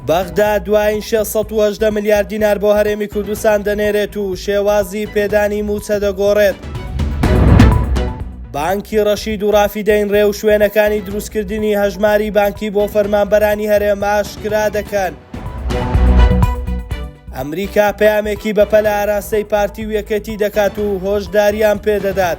بەغدا دوایین 618 ملیار دینار بۆ هەرێمی کوردستان دەنێرێت و شێوازی پێدانی موچە دەگۆڕێت. بانکی ڕەشید و ڕافیدەین ڕێ و شوێنەکانی دروستکردنی هەژماری بانکی بۆ فەرمانبەرانی هەرێم ئاشکرا دەکەن. ئەمریکا پەیامێکی بەپە لە ئاراستەی پارتی و یەکێتی دەکات و هۆشداریان پێدەدات.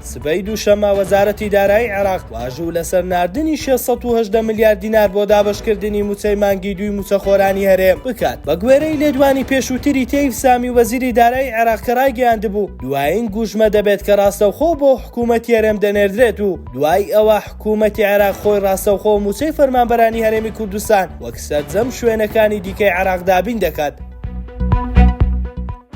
سبەی دووشەممە وەزارەتی دارایی عێراق واژوو لەسەر ناردنی شێست سەد و هەژدە ملیار دینار بۆ دابەشکردنی مووچەی مانگی دووی مووچەخۆرانی هەرێم بکات، بەگوێرەی لێدوانی پێشووتری تەیف سامی وەزیری دارایی عێراق کە رایگەیاندبوو، دوایین گوژمە دەبێت کە راستەوخۆ بۆ حکوومەتی هەرێم دەنێردرێت و دوای ئەوە حکوومەتی عێراق خۆی راستەوخۆ مووچەی فەرمانبەرانی هەرێمی کوردستان وەک سەرجەم شوێنەکانی دیکەی عێراق دابین دەکات.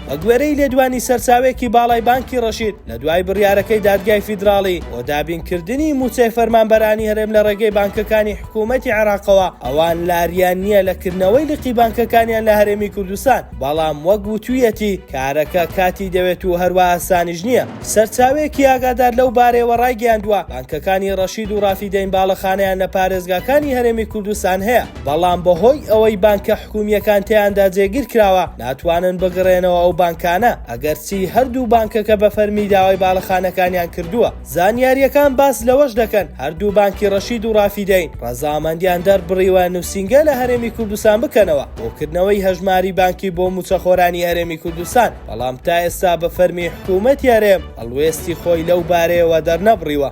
بەگوێرەی لێدوانی سەرچاوێکی باڵای بانکی ڕەشید لە دوای بڕیارەکەی دادگای فیدراڵی بۆ دابینکردنی موچەی فەرمانبەرانی هەرێم لە ڕێگەی بانکەکانی حکوومەتی عێراقەوە ئەوان لاریان نییە لە کردنەوەی لقی بانکەکانیان لە هەرێمی کوردستان بەڵام وەک وتوویەتی کارەکە کاتی دەوێت و هەروە ئاسانیش نییە سەرچاوێکی ئاگادار لەو بارەوە ڕایگەیاندووە بانکەکانی ڕەشید و ڕافیدەین باڵەخانیان لە پارێزگاکانی هەرێمی کوردستان هەیە بەڵام بەهۆی ئەوەی بانکە حکومییەکان تێیاندا جێگیر کراوە ناتوانن بگڕێنەوە ئەو بانکانە، ئەگەرچی هەردوو بانکەکە بە فەرمی داوای باڵەخانەکانیان کردووە. زانیارییەکان باس لەوەش دەکەن، هەردوو بانکی ڕەشید و ڕافیدەین ڕەزامەندیان دەربڕیوە نووسینگە لە هەرێمی کوردستان بکەنەوە بۆ کردنەوەی هەژماری بانکی بۆ مووچەخۆرانی هەرێمی کوردستان، بەڵام تا ئێستا بە فەرمی حکوومەتی هەرێم هەڵوێستی خۆی لەو بارەیەوە دەرنەبڕیوە.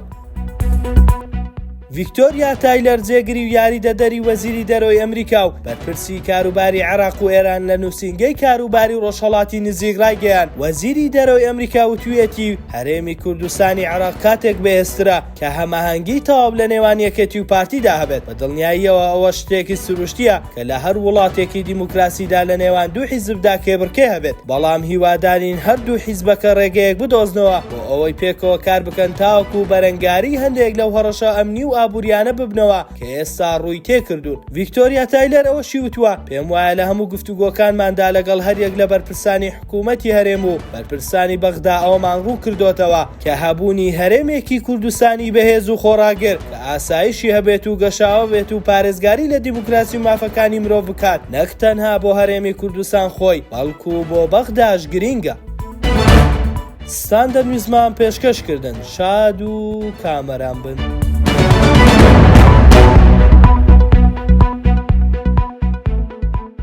ڤیکتۆریا تایلەر جێگری و یاریدەدەری وەزیری دەرۆی ئەمریکا و بەرپرسی کاروباری عێراق و ئێران لە نووسنگەی کاروباری و ڕۆژهڵاتی نزیک ڕایگەیان وەزیری دەرۆی ئەمریکا وتویەتی هەرێمی کوردستانی عراق کاتێک بەێسترا کە هەماهەنگی تەواو لە نێوان یەکێتی و پارتیدا هەبێت بە دڵنیاییەوە ئەوە شتێکی سروشتیە کە لە هەر وڵاتێکی دیموکراسیدا لە نێوان دوو حیزبدا کێبڕکێ هەبێت بەڵام هیوادارین هەردوو حیزبەکە ڕێگەیەک بدۆزنەوە بۆ ئەوەی پێکەوە کار بکەن تاوەکو بەرەنگاری هەندێک لەو هەڕەشە ئەمنی و ئابووریانە ببنەوە کە ئێستا ڕووی تێکردوون. ڤیکتۆریا تایلەر ئەوەشی وتووە، پێم وایە لە هەموو گفتوگۆکانماندا لەگەڵ هەریەک لە بەرپرسانی حکوومەتی هەرێم و بەرپرسانی بەغدا ئەوەمان ڕوون کردۆتەوە کە هەبوونی هەرێمێکی کوردستانی بەهێز و خۆڕاگر کە ئاسایشی هەبێت و گەشاوە بێت و پارێزگاری لە دیموکراسی و مافەکانی مرۆڤ بکات نەک تەنها بۆ هەرێمی کوردستان خۆی بەڵکوو بۆ بەغداش گرینگە. ستان دەمویستمان پێشکەش کردن شاد و کامەران بن.